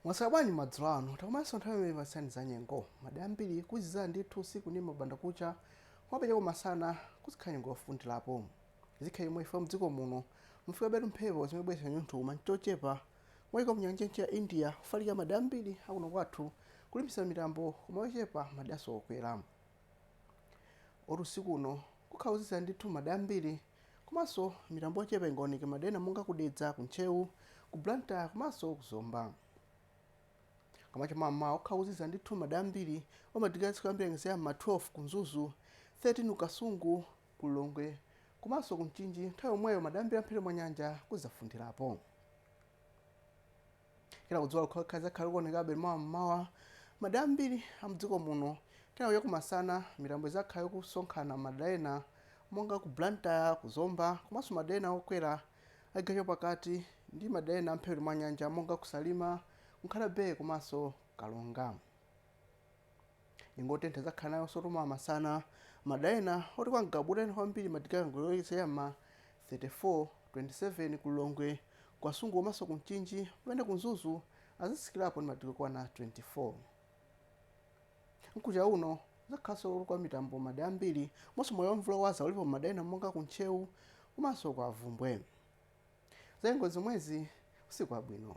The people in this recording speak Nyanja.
mwaswera bwanji madzulo ano takumananso nthawi imene tikupatsirani za nyengo madera ambiri kuzizira ndithu usiku ndi mbandakucha kumapita kumasana kuzikhala nyengo yofundirapo zikhala chomwechi chifukwa mdziko muno mufikabetu mphepo zimene zibweretsa chinyontho koma chochepa kuchoka mnyanja ya mchere ya india kufalikira madera ambiri akuno kwathu kulimbikitsa mitambo koma yochepa madera okwera Oti usiku uno kukhala kozizira ndithu madera ambiri komanso mitambo yochepa ingaoneke madera ena monga ku Dedza, ku Ntcheu, ku Blantyre komanso ku Zomba. Koma cha mammawa kukhala kozizira ndithu madera ambiri omwe madigiri atsike kwambiri anyengeza ya m'ma 12 ku Mzuzu, 13 ku Kasungu, ku Lilongwe komanso ku Mchinji nthawi yomweyo madera ambiri a mphepete mwa nyanja kuzafundirapo. kenaka dzuwa lokhalokha lizakhala likuonekabe mawa mmawa madera ambiri a mdziko muno kenaka cha kumasana mitambo izakhala ikusonkhana madera ena monga ku blantyre ku zomba komanso madera ena okwera achigawo chapakati ndi madera ena amphepete mwa nyanja monga ku salima ku nkhata bay komanso karonga nyengo yotentha tizakhala nayonsotu mawa masana madera ena oti kwa ngabu kutentha kwambiri madigiri ongoyerekeza ya m'ma 34 27 ku lilongwe ku kasungu komanso ku mchinji pamene ku mzuzu azatsikirapo ndi madigiri okwana 24 mkucha uno kuzakhalanso kuli kwa mitambo madera ambiri komanso mwayi wamvula yowaza ulipo madera ena monga ku ntcheu komanso kwa bvumbwe za nyengo nzomwezi usiku wabwino